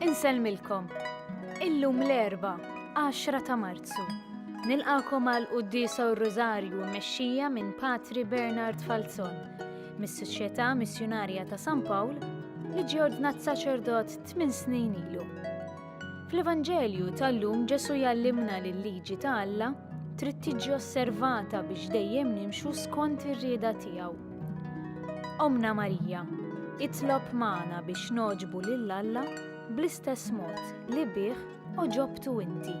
Insellmilkom. Illum l-Erbgħa, 10 ta' Marzu. Nilqakom għal Quddiesa u r-Rużarju mmexxija minn Patri Bernard Falzon mis-Soċjetà Missjunarja ta' San Pawl li ġie ordnat saċerdot tmien snin ilu. Fl-Evanġelju tal-lum Ġesu jallimna li l-liġi ta' Alla trid tiġi osservata biex dejjem nimxu skont ir-rieda tiegħu. Ommna Marija, itlob magħna biex nogħġbu lil Alla bl-istess mod li bih oġobtu inti.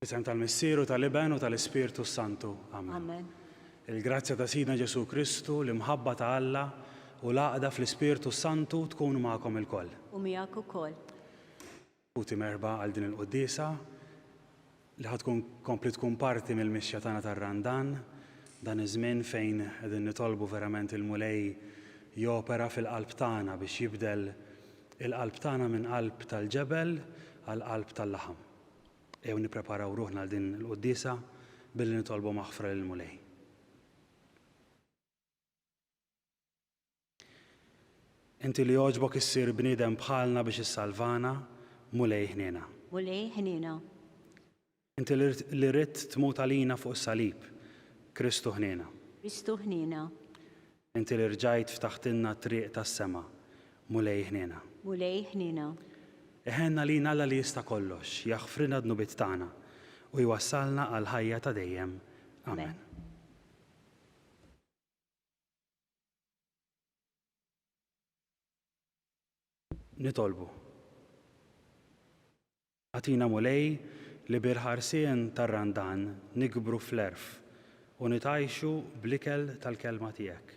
F'isem tal-Missier u tal-Iben u tal-Ispirtu s-Santu. Amen. Amen. Il-grazzja ta' Sidna Ġesù Kristu, l-imħabba ta' Alla u l-għaqda fl-Ispirtu s-Santu tkun magħkom ilkoll. U miegħek ukoll. Ħuti merħba għal din il-quddiesa li ħad tkun kompli tkun parti mill-mixja tagħna tar-Randan, dan iż-żmien fejn qegħdin nitolbu verament il-Mulej jopera fil-qalb tagħna biex jibdel il-qalb tagħna minn qalb tal-ġebel għal qalb tal-laħam. Ejjew nippreparaw ruħna għal din il-quddiesa billi nitolbu maħfra lill-Mulej. Inti li jogħġbok issir bniedem bħalna biex issalvana, Mulej ħniena. Mulej ħniena. Inti li ridt tmut għalina fuq is-salib, Kristu ħniena. Kristu ħniena. Inti li rġajt ftaħtilna t-triq tas-sema, Mulej iħniena. Mulej iħniena. Iħenn għalina Alla li jista' kollox, jaħfrilna d-dnubiet tagħna, u jwassalna għall-ħajja ta' dejjem. Amen. Nitolbu. Agħtina Mulej li bil-ħarsien tar-Randan nikbru fl-għerf u nitgħajxu bl-ikel tal-Kelma Tiegħek.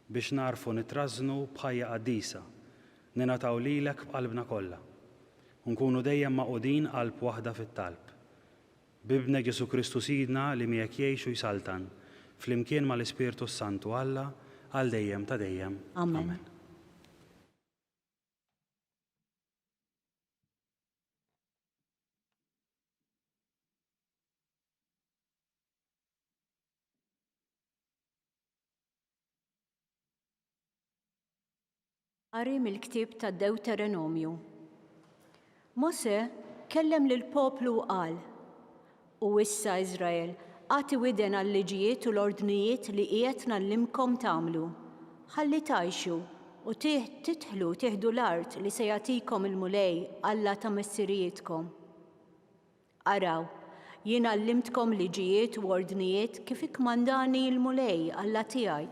Biex nagħrfu nitrażżnu b'ħajja qaddisa, ningħataw lilek b'qalbna kollha. U nkunu dejjem magħqudin qalb waħda fit-talb. B'Ibnek Ġesù Kristu Sidna li miegħek jgħix u jsaltan, flimkien mal-Ispirtu s-Santu Alla għal dejjem ta' dejjem. Amen. Qari mill-ktieb tad Dewterenomju. Mose kellem lill poplu u qal, U issa, Iżrael, agħti widen għal-liġijiet u l-ordnijiet li qiegħed ngħallimkom tagħmlu, ħalli tgħixu, u tidħlu tieħdu l-art li se jagħtikom il-Mulej Alla ta' missirijietkom. Araw, jien għallimtkom liġijiet u ordnijiet kif ikkmandani l-Mulej Alla tiegħi,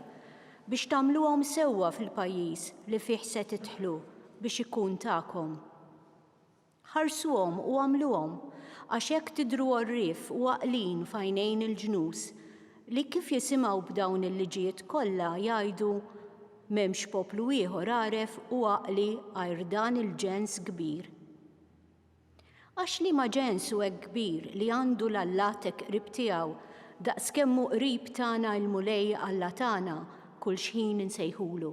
biex tagħmluhom sewwa fil-pajjiż li fih se tidħlu biex ikun tagħkom. Ħarsuhom u agħmluhom, għax hekk tidhru għorrief u għaqlin f'għajnejn il-ġnus, li kif jisimgħu b'dawn il-liġijiet kollha, jgħidu, M'hemmx poplu ieħor għaref u għaqli għajr dan il-ġens kbir. Għax liema ġens hu hekk kbir li għandu 'l Allat hekk qrib tiegħu, daqskemm hu qrib tagħna l-Mulej Alla tagħna kull xħin insejħulu?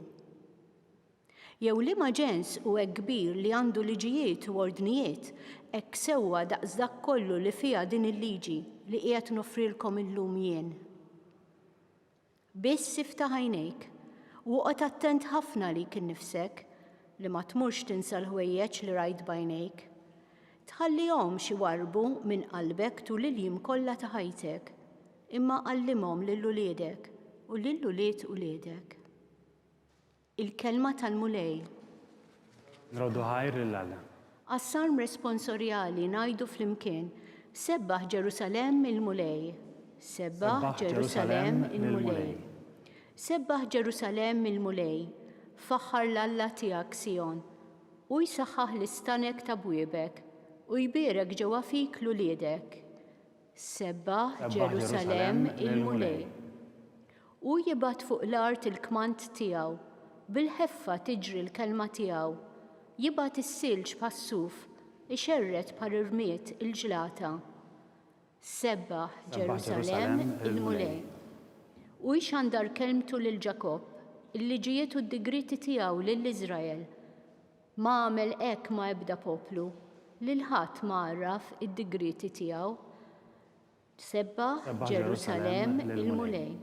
Jew liema ġens hu hekk kbir li għandu liġijiet u ordnijiet hekk sewwa daqs dak kollu li fiha din il-liġi li qiegħed noffrilkom illum jien? Biss iftaħ għajnejk, u oqgħod attent ħafna għalik innifsek, li ma tmurx tinsa l-ħwejjeġ li rajt b'għajnejk. Tħallihomx iwarrbu minn qalbek tul il-jiem kollha ta' ħajtek, imma għallimhom lil uliedek u lil ulied uliedek. Il-kelma tal-Mulej. Nroddu ħajr lil Alla. Għas-Salm Responsorjali ngħidu flimkien, Sebbaħ Ġerusalemm il-Mulej. Sebbaħ Ġerusalemm il-Mulej. Sebbaħ Ġerusalemm il-Mulej. Faħħar 'l Alla tiegħek Sijon. Hu jsaħħaħ l-istanek ta' bwiebek, u jbierek ġewwa fik 'l uliedek. Sebba Ġerusalemm il-Mulej. Hu jibgħat fuq l-art il-kmand tiegħu, bil-ħeffa tiġri l-kelma tiegħu, jibgħat is-silġ bħas-suf, ixerred bħal irmied il-ġlata. Sebba Ġerusalemm il-Mulej. Hu jxandar kelmtu lil Ġakobb, il-liġijiet u d-digrieti tiegħu lil Iżrael. Ma għamel hekk ma' ebda poplu, lil ħadd ma għarraf id-digrieti tiegħu. Sebbaħ, Ġerusalemm, il-Mulej.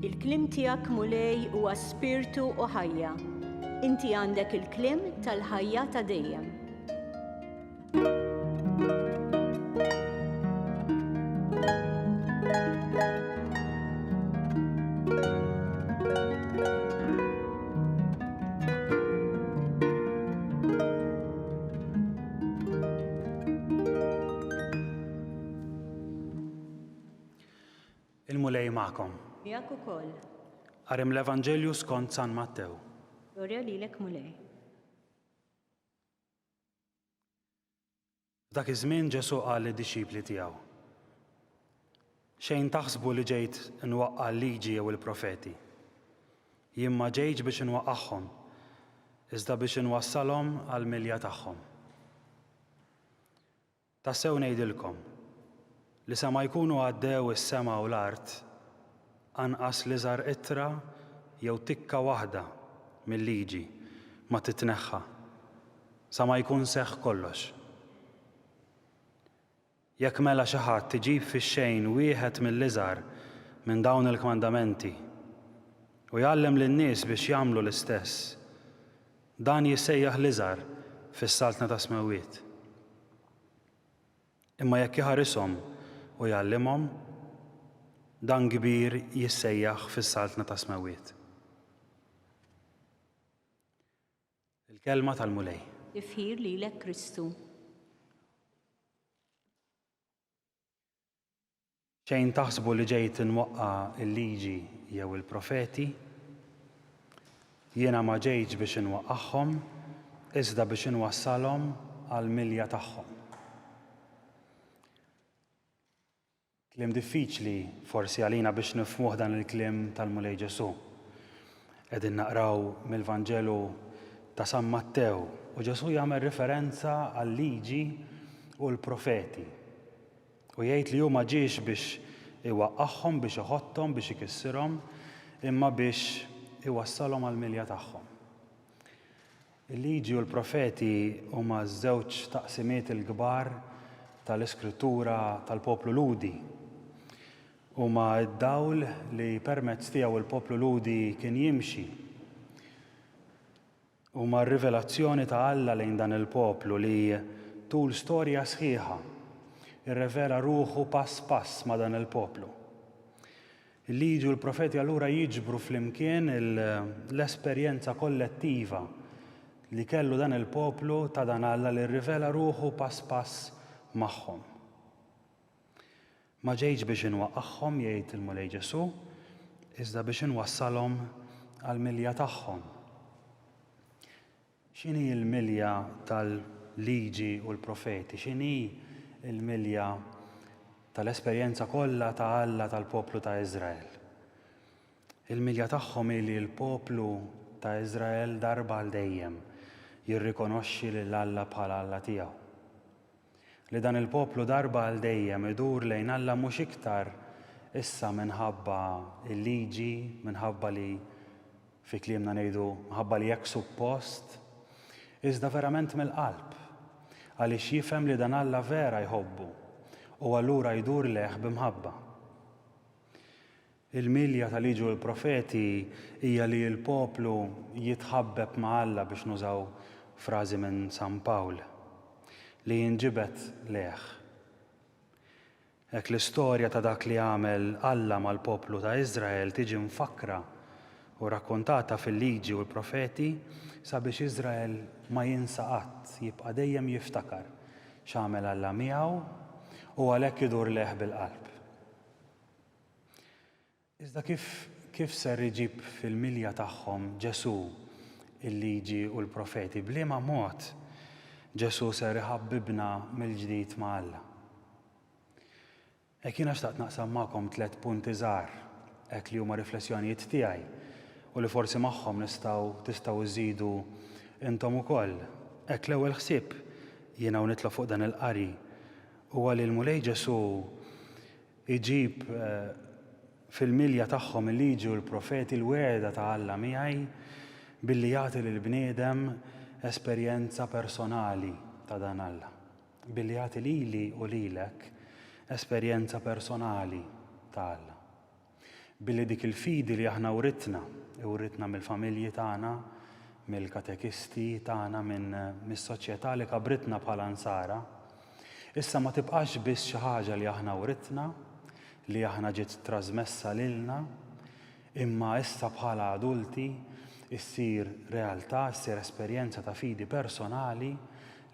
Il-kliem tiegħek, Mulej, huwa. Spirtu u ħajja. Inti għandek il-kliem tal-ħajja ta' dejjem. Il-Mulej magħkom. Miegħek ukoll. Qari mill-Evanġelju skont San Mattew. Glorja lilek Mulej. F'dak iż-żmien Ġesù qal lid-dixxipli tiegħu, Xejn taħsbu li ġejt nwaqqa' l-liġi jew il-profeti. Jien ma ġejtx biex inwaqqagħhom, iżda biex inwassalhom għall-milja tagħhom. Tassew ngħidilkom, li sa ma jkunu għaddew is-sema u l-art, anqas l-iżgħar qittra jew tikka waħda mil-liġi ma titneħħa, sa ma jkun seħħ kollox. Jekk mela xi ħadd iġib fix-xejn wieħed mill-iżgħar minn dawn il-kmandamenti, u jgħallem lin-nies biex jagħmlu l-istess, Dan jissejjaħ l-iżgħar fis-Saltna tas-Smewwiet. Imma jekk iħarishom u jgħallimhom, dan kbir jissejjaħ fis-Saltna tas-Smewwiet. Il-Kelma tal-Mulej. Tifħir lilek Kristu. Xejn taħsbu li ġej tinwaqqa' l-liġi jew il-profeti. Jiena ma ġejtx biex inwaqqagħhom, iżda biex inwassalhom għall-milja tagħhom. Kliem diffiċli forsi għalina biex nifhmuh dan il-kliem tal-Mulej Ġesù. Qegħdin naqraw mill-Vanġelu ta' San Mattew u Ġesù jagħmel riferenza għal-liġi u l-profeti. U jgħid li hu ma ġiex biex iwaqqagħhom, biex iħotthom, biex ikissirhom, imma biex iwassalhom għall-milja tagħhom. Il-Liġi u l-Profeti huma ż-żewġ taqsimiet il-kbar tal-Iskrittura tal-poplu Lhudi. Huma d-dawl li permezz tiegħu l-poplu Lhudi kien jimxi. Huma r-rivelazzjoni ta' Alla lejn dan il-poplu li, tul storja sħiħa, irrevela ruħu pass pass ma' dan il-poplu. Il-Liġi u l-Profeti allura jiġbru flimkien l-esperjenza kollettiva li kellu dan il-poplu ta' dan Alla li rrivela ruħu pass pass magħhom. Ma ġejtx biex inwaqqagħhom, jgħid il-Mulej Ġesù, iżda biex inwassalhom għall-milja tagħhom. X'inhi l-milja tal-Liġi u l-Profeti? X'inhi l-milja tal-esperjenza kollha ta' Alla tal-poplu ta' Iżrael? Il-milja tagħhom hi li l-poplu ta' Iżrael darba għal dejjem jirrikonoxxi lil Alla bħala Alla tiegħu. li dan il-poplu darba għal dejjem idur lejn Alla mhux iktar issa minħabba l-liġi, minħabba li fi kliemna ngħidu minħabba li hekk suppost, iżda verament mill-qalb, għaliex jifhem li dan Alla vera jħobbu u allura jdur lejh b'imħabba. Il-milja ta' Liġi u l-Profeti hija li l-poplu jitħabbeb ma' Alla biex nużaw frażi minn San Pawl, li jinġibed lejh. Hekk l-istorja ta' dak li għamel Alla mal-poplu ta' Iżrael tiġi mfakkra u rrakkuntata fil-Liġi u l-Profeti sabiex Iżrael ma jinsa qatt, jibqa' dejjem jiftakar x'għamel Alla miegħu u għalhekk idur lejh bil-qalb. Iżda kif, kif ser iġib fil-milja tagħhom Ġesù il-Liġi u l-Profeti? B'liema mod Ġesù ser iħabbibna mill-ġdid ma' Alla? Hekk jiena xtaqt naqsam magħkom tliet punti żgħar hekk li huma riflessjonijiet tiegħi u li forsi magħhom nistgħu, tistgħu żżidu intom ukoll. Hekk l-ewwel ħsieb jiena u nitlob fuq dan il-qari huwa li l-Mulej Ġesù Iġib fil-milja tagħhom il-Liġi u l-Profeti, l-wegħda ta' Alla miegħi, billi jagħti lill-bniedem esperjenza personali ta' dan Alla, billi jagħti lili u lilek esperjenza personali ta' Alla, billi dik il-fidi li aħna writna, iwritna mill-familji tagħna, mill-katekisti tagħna, minn mis-soċjetà li kabritna bħala Nsara, Issa ma tibqax biss xi ħaġa li aħna writna, li aħna ġiet trażmessa lilna, imma issa bħala adulti ssir realtà, ssir esperjenza ta' fidi personali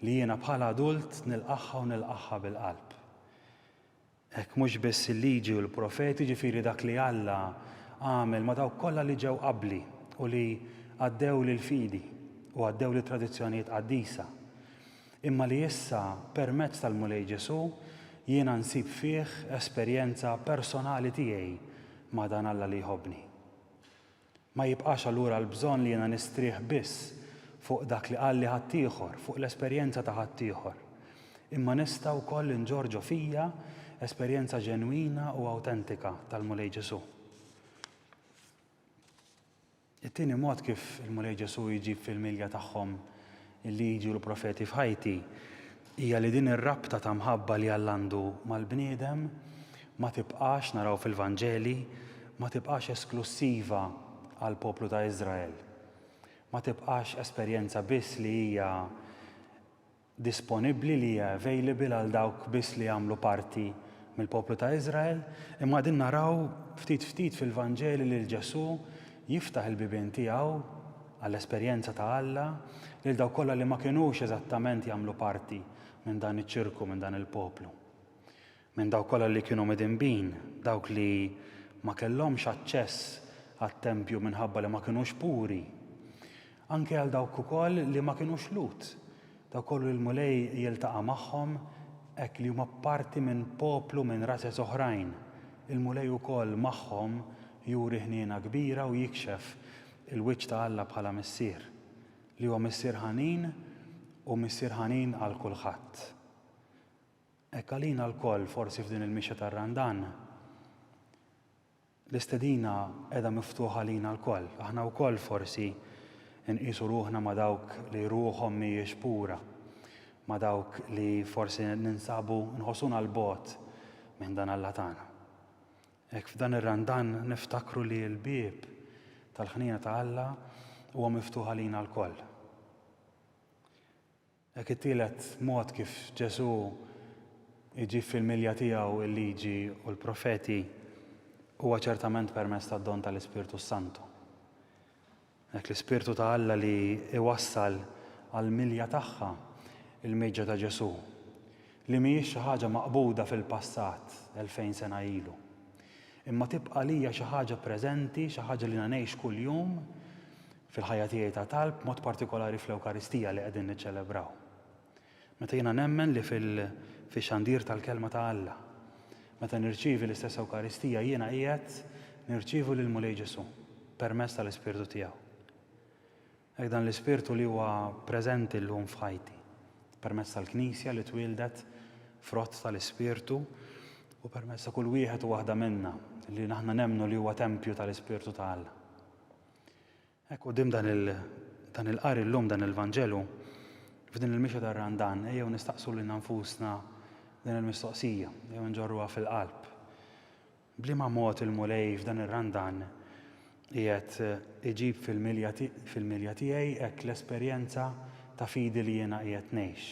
li jiena bħala adult nilqagħha u nilqagħha bil-qalb. Hekk mhux biss il-Liġi u l-Profeti, jiġifieri dak li Alla għamel ma' dawk kollha li ġew qabli u li għaddew lill-fidi u għaddew lit-tradizzjonijiet qaddisa, imma li issa permezz tal-Mulej Ġesù jiena nsib fih esperjenza personali tiegħi ma' dan Alla li jħobbni. Ma jibqax allura l-bżonn li jiena nistrieħ biss fuq dak li qalli ħaddieħor, fuq l-esperjenza ta' ħaddieħor. Imma nista' wkoll inġorr ġo fija esperjenza ġenwina u awtentika tal-Mulej Ġesù. It-tieni mod kif il-Mulej Ġesù jġib fil-milja tagħhom il-Liġi u l-Profeti f'ħajti hija li din ir-rabta ta' mħabba li Alla għandu mal-bniedem ma tibqax, naraw fil-Vanġeli, ma tibqax esklussiva għall-poplu ta' Iżrael. Ma tibqax esperjenza biss li hija disponibbli, li hija available għal dawk biss li jagħmlu parti mill-poplu ta' Iżrael, imma qegħdin naraw ftit ftit fil-Vanġeli lil Ġesù Jiftaħ il-bibien tiegħu għall-esperjenza ta' Alla lil dawk kollha li ma kinux eżattament jagħmlu parti minn dan iċ-ċirku, minn dan il-poplu. Minn dawk kollha li kienu midinbin, dawk li ma kellhomx aċċess għat-tempju minħabba li ma kinux puri. Anke għal dawk ukoll li ma kinux Lhud, dawk kollha li l-Mulej jiltaqa' magħhom hekk li huma parti minn poplu minn razez oħrajn, il-Mulej ukoll magħhom juri ħniena kbira u jikxef il-wiċċ ta' Alla bħala Missier, li huwa Missier ħanin u Missier ħanin għal kulħadd. Hekk għalina lkoll, forsi f'din il-mixja tar-Randan, L-istedina qiegħda miftuħa għalina lkoll. Aħna wkoll forsi nqisu ruħna ma' dawk li ruħhom mhijiex pura, ma' dawk li forsi ninsabu nħossuna 'l bogħod minn dan Alla tagħna. Hekk f'dan ir-Randan niftakru li l-bieb tal-ħniena ta' Alla huwa miftuħ għalina lkoll. Dak it-tielet mod kif Ġesù jġib fil-milja tiegħu l-Liġi u l-Profeti huwa ċertament permezz tad-don tal-Ispirtu s-Santu. Dak l-Ispirtu ta' Alla li jwassal għall-milja tagħha l-mieġa ta' Ġesù, li mhijiex xi ħaġa maqbuda fil-passat elfejn sena ilu, imma tibqa' għalija xi ħaġa preżenti, xi ħaġa li ngħix kuljum, fil-ħajja tiegħi ta' talb, b'mod partikolari fl-Ewkaristija li qegħdin niċċelebraw. Meta jiena nemmen li fil-xandir tal-Kelma ta' Alla, meta nirċievi l-istess Ewkaristija, jiena qiegħed nirċievu lill-Mulej Ġesù permezz tal-Ispirtu tiegħu. Hekk dan l-Ispirtu li huwa preżenti llum f'ħajti, permezz tal-Knisja li twieldet frott tal-Ispirtu u permezz ta' kull wieħed u waħda minna li aħna nemmnu li huwa tempju tal-Ispirtu ta' Alla. Hekk quddiem dan il dan il-qari llum, dan il-Vanġelu, f'din il-mixja tar-Randan, ejjew nistaqsu lilna nfusna din il-mistoqsija, ejjew nġorruha fil-qalb. B'liema mod il-Mulej f'dan ir-Randan qiegħed iġib fil-milja fil-milja tiegħi hekk l-esperjenza ta' fidi li jiena qiegħed ngħix?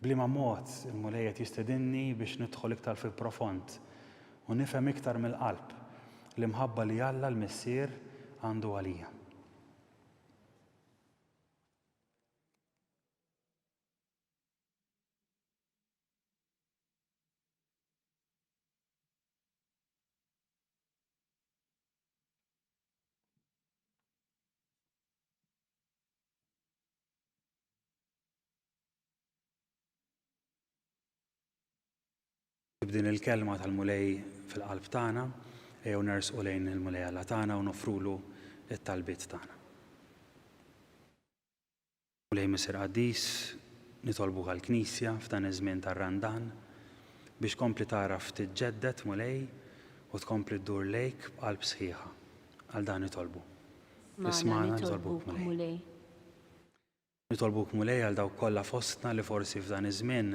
B'liema mod il-Mulej qed jistedinni biex nidħol iktar fil-profond u nifhem iktar mill-qalb l-imħabba li Alla l-Missier għandu għalija? B'din il-kelma tal-Mulej fil-qalb tagħna, ejjew nersqu lejn il-Mulej Alla tagħna u nofrulu t-talbiet tagħna. Mulej Missier Qaddis, nitolbu għall-Knisja f'dan iż-żmien tar-Randan biex tkompli tagħraf tiġġedded, Mulej, u tkompli ddur lejk b'qalb sħiħa. Għal dan nitolbu. Ismagħna nitolbuk, Mulej. Nitolbuk Mulej għal dawk kollha fostna li forsi f'dan iż-żmien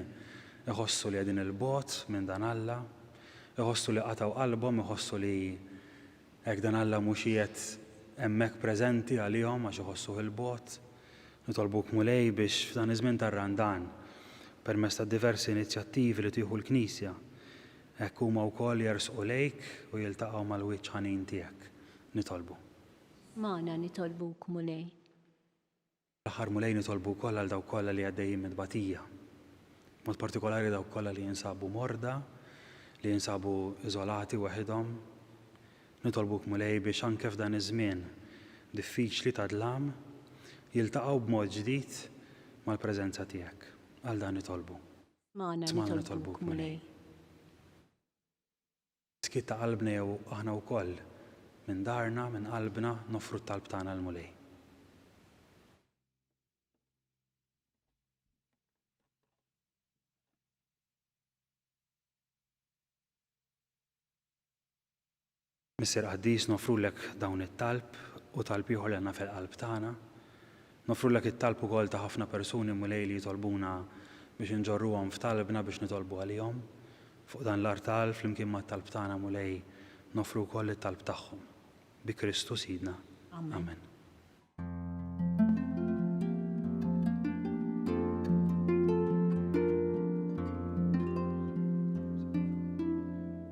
iħossu li qegħdin 'il bogħod minn dan Alla, iħossu li qatgħu qalbhom, iħossu li hekk dan Alla mhux qiegħed hemmhekk preżenti għalihom għax iħossuh 'il bogħod. Nitolbuk Mulej biex f'dan iż-żmien tar-Randan, permezz tad-diversi inizjattivi li tieħu l-Knisja, hekk huma wkoll jersqu lejk u jiltaqgħu mal-wiċċ ħanin tiegħek. Nitolbu. Magħna nitolbuk Mulej. Fl-aħħar Mulej nitolbu wkoll għal dawk kollha li għaddejjin minn tbatija. B'mod partikolari dawk kollha li jinsabu morda, li jinsabu iżolati weħidhom. Nitolbuk Mulej biex anke f'dan iż-żmien diffiċli ta' dlam jiltaqgħu b'mod ġdid mal-preżenza tiegħek. Għal dan nitolbu. Smagħna nitolbuk Mulej. Skiet ta' qalbna jew aħna wkoll minn darna, minn qalbna, noffru t-talb tagħna l-Mulej. Missier Qaddis, noffrulek dawn it-talb u talb ieħor li għandna fil-qalb tagħna, Noffrulek it-talb ukoll ta' ħafna persuni, Mulej, li jitolbuna biex inġorruhom f'talbna biex nitolbu għalihom. Fuq dan l-artal, flimkien mat-talb tagħna, Mulej, noffru wkoll it-talb tagħhom. Bi Kristu Sidna. Amen.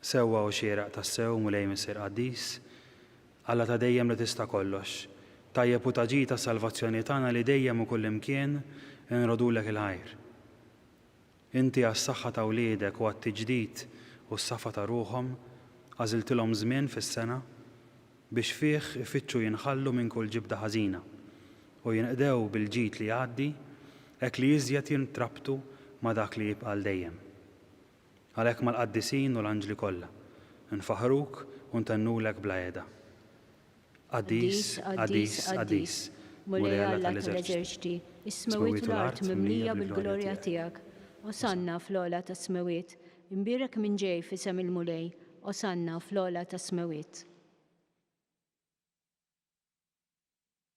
Sewwa u xieraq tassew, Mulej Missier Qaddis, Alla ta' dejjem li tista' kollox. Tajjeb u ta' ġid għas-salvazzjoni tagħna li dejjem u kullimkien inrodulek il-ħajr. Inti għas-saħħa ta' wliedek u għat-tiġdid u s-safa ta' ruħhom għażiltilhom żmien fis-sena biex fih ifittxu jinħallu minn kull ġibda ħażina u jinqdew bil-ġid li jgħaddi hekk li iżjed jintrabtu ma' dak li jibqa' għal dejjem. Għalhekk mal-qaddisin u l-anġli kollha, nfaħħruk u ntennulek bla qiegħda. Qaddis, qaddis, qaddis, Mulej Alla tal-eżerċti, is-smewwiet u l-art mimlija bil-glorja tiegħek. Osanna fl-ogħla tas-smewwiet. Imbierek min ġej f'isem il-Mulej. Osanna fl-ogħla tas-smewwiet.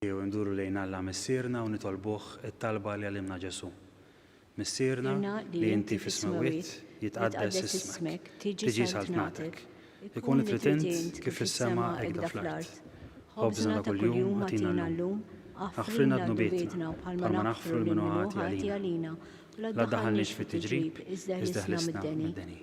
Jew induru lejn Alla Missierna u nitolbuh it-talba li għallimna Ġesù, Missierna li inti fis-Smewwiet, jitqaddes ismek, tiġi saltnatek, ikun li trid int kif fis-sema hekk fl-art. Ħobżna ta' kuljum agħtina llum, aħfrilna dnubietna bħalma naħfru lil min hu ħati għalina, u la ddaħħalniex fit-tiġrib, iżda ħlisna mid-deni.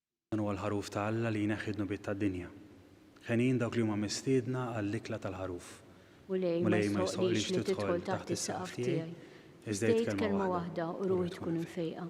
Dan huwa l-Ħaruf ta' Alla li jneħħi d-dnubiet tad-dinja. Henjin dawk li huma mistiedna għall-ikla tal-Ħaruf. Mulej, ma jistħoqqlix li tidħol taħt is-saqaf tiegħi, iżda għid kelma waħda u ruħi tkun imfejqa.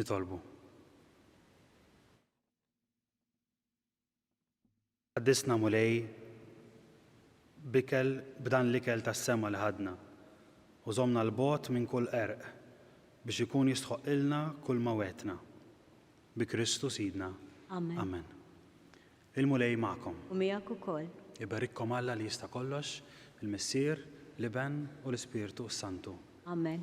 Nitolbu. Qaddisna mulej bikel b'dan l-ikel tas-sema li ħadna u żomna l-bogħod minn kull qerq biex ikun jistħoqqilna kull ma wegħdtna. Bi Kristu Sidna. Amen. Amen. Il-Mulej magħkom. U miegħek ukoll. Iberikkom Alla li jista' kollox, il-Missier, l-Iben u l-Ispirtu s-Santu. Amen.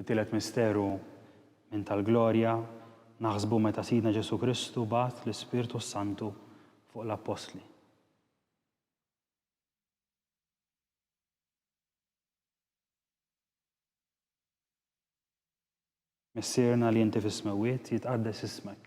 It-tielet misteru minn tal-glorja naħsbu meta Sidna Ġesù Kristu bagħat l-Ispirtu s-Santu fuq l-Appostli. Missierna li inti fis-smewwiet, jitqaddes ismek.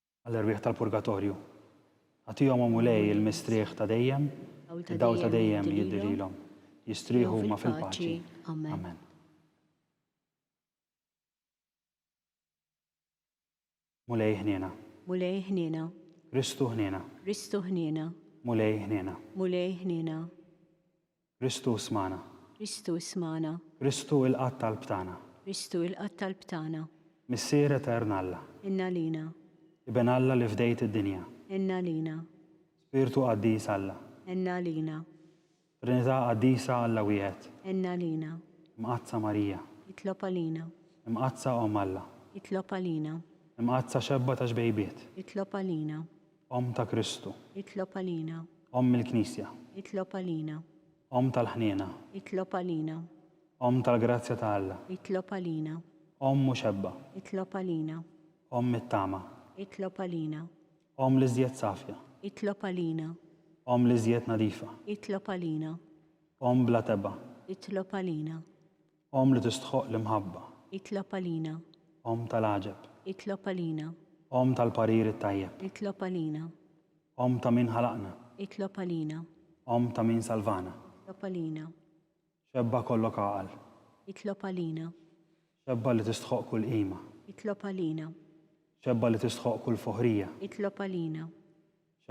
Għall-erwieħ tal-purgatorju. Agħtihom, O Mulej, il-mistrieħ ta' dejjem, id-dawl ta' dejjem jiddi lilhom. Jistrieħu huma fil-paċi. Amen. Mulej ħniena. Mulej ħniena. Kristu ħniena. Kristu ħniena. Mulej ħniena. Mulej ħniena. Kristu ismagħna. Kristu ismagħna. Kristu ilqa' t-talb tagħna. Kristu ilqa' t-talb tagħna. Missier Etern Alla. Għin għalina. Iben Alla li fdejt id-dinja. Għin għalina. Spirtu Qaddis Alla. Għin għalina. Trinità Qaddisa Alla Wieħed. Għin għalina. Imqaddsa Marija. Itlob għalina. Imqaddsa Omm Alla. Itlob għalina. Imqaddsa Xebba ta' Xbejbiet. Itlob għalina. Omm ta' Kristu. Itlob għalina. Omm il-Knisja. Itlob għalina. Omm tal-ħniena. Itlob għalina. Omm tal-grazzja ta' Alla. Itlob għalina. Omm muxebba. Itlob għalina. Omm it-tama. Itlob għalina. Omm l-iżjed safja. Itlob għalina. Omm l-iżjed nadifa. Itlob għalina. Omm bla tebgħa. Itlob għalina. Omm li tistħoqq l-imħabba. Itlob għalina. Omm tal-għaġeb. Itlob għalina. Omm tal-parir it-tajjeb. Itlob għalina. Omm ta' min ħalaqna. Itlob għalina. Omm ta' min salvana. Itlob għalina. Xebba kollok għaqal. Itlob għalina. Xebba li tistħoqq kull qima. Itlob għalina. Xebba li tistħoqq kull foħrija. Itlob għalina.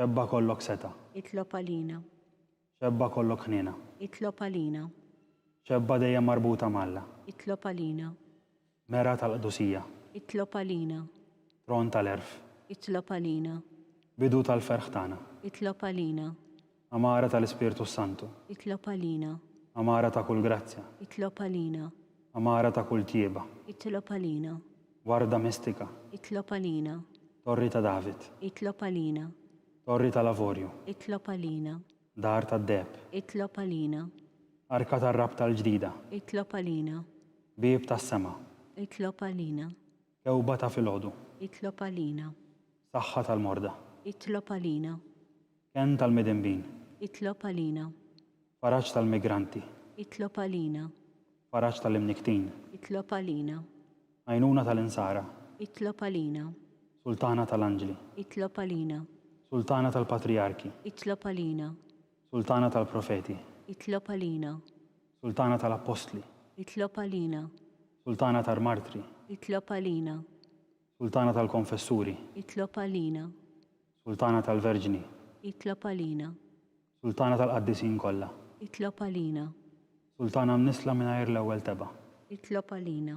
Xebba kollok setgħa. Itlob għalina. Xebba kollok ħniena. Itlob għalina. Xebba dejjem marbuta m'Alla. Itlob għalina. Mera tal-qdusija. Itlob għalina. Tron tal-għerf. Itlob għalina. Bidu tal-ferħ tagħna. Itlob għalina. Għamara tal-Ispirtu s-Santu. Itlob għalina. Għamara ta' kull grazzja. Itlob għalina. Għamara ta' kull tjieba. Itlob għalina. Warda mistika. Itlob għalina. Torri ta' David. Itlob għalina. Torri tal-Avorju. Itlob għalina. Dar tad-Deheb. Itlob għalina. Arka tar-Rabta l-Ġdida. Itlob għalina. Bieb tas-Sema. Itlob għalina. Kewba ta' filgħodu. Itlob għalina. Saħħa tal-morda. Itlob għalina. Kenn tal-midinbin. Itlob għalina. Faraġ tal-migranti. Itlob għalina. Faraġ tal-imnikktin. Itlob għalina. Għajnuna tal-insara. Itlob għalina. Sultana tal-anġli. Itlob għalina. Sultana tal-patrijarki. Itlob għalina. Sultana tal-profeti. Itlob għalina. Sultana tal-appostli. Itlob għalina. Sultana tal-martri. Itlob għalina. Sultana tal-konfessuri. Itlob għalina. Sultana tal-verġni. Itlob għalina. Sultana tal-qaddisin kollha. Itlob għalina. Sultana mnissla mingħajr l-ewwel tebgħa. Itlob għalina.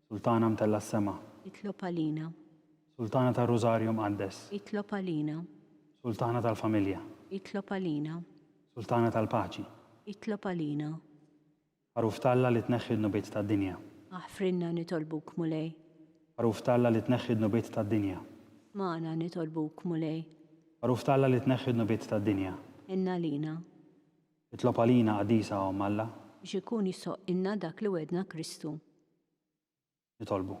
Sultana mtellgħa s-sema. Itlob għalina. Sultana tar-Rużarju Mqaddes. Itlob għalina. Sultana tal-familja. Itlob għalina. Sultana tal-paċi. Itlob għalina. Magħruf t'Alla li tneħħi d-dnubiet tad-dinja. Aħfrilna nitolbuk, Mulej. Magħruf t'Alla li tneħħi d-dnubiet tad-dinja. Smagħna nitolbuk, Mulej. Magħruf t'Alla li tneħħi d-dnubiet tad-dinja. Ħenn għalina. Itlob għalina, Qaddisa Omm Alla. Biex ikun jisħoqqilna dak li wegħdna Kristu. Nitolbu.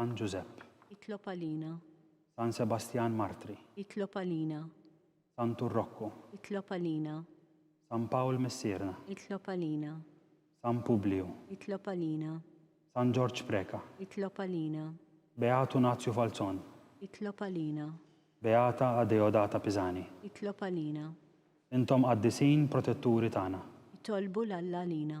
San Ġużepp. Itlob għalina. San Sebastjan Martri. Itlob għalina. San Turrokku. Itlob għalina. San Pawl Missierna. Itlob għalina. San Publiju. Itlob għalina. San Ġorġ Preca. Itlob għalina. Beatu Nazju Falzon. Itlob għalina. Beata Adeodata Pisani. Itlob għalina. Intom qaddisin protetturi tagħna. Itolbu 'l Alla għalina.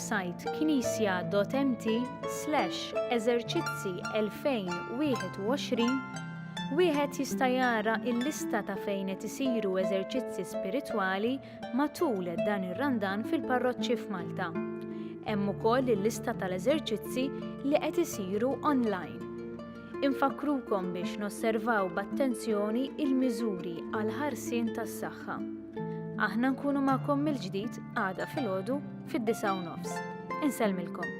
websajt knisja.mt slash eżerċizzi 2021 wieħed jista' jara l-lista ta' fejn qed isiru eżerċizzi spiritwali matul dan ir-Randan fil-parroċċi f'Malta. Hemm ukoll il-lista tal-eżerċizzi li qed isiru online. Infakkrukom biex nosservaw b'attenzjoni il-miżuri għal ħarsien tas-saħħa. Aħna nkunu magħkom mill-ġdid għada filgħodu fid-disa' u nofs. Insellmilkom.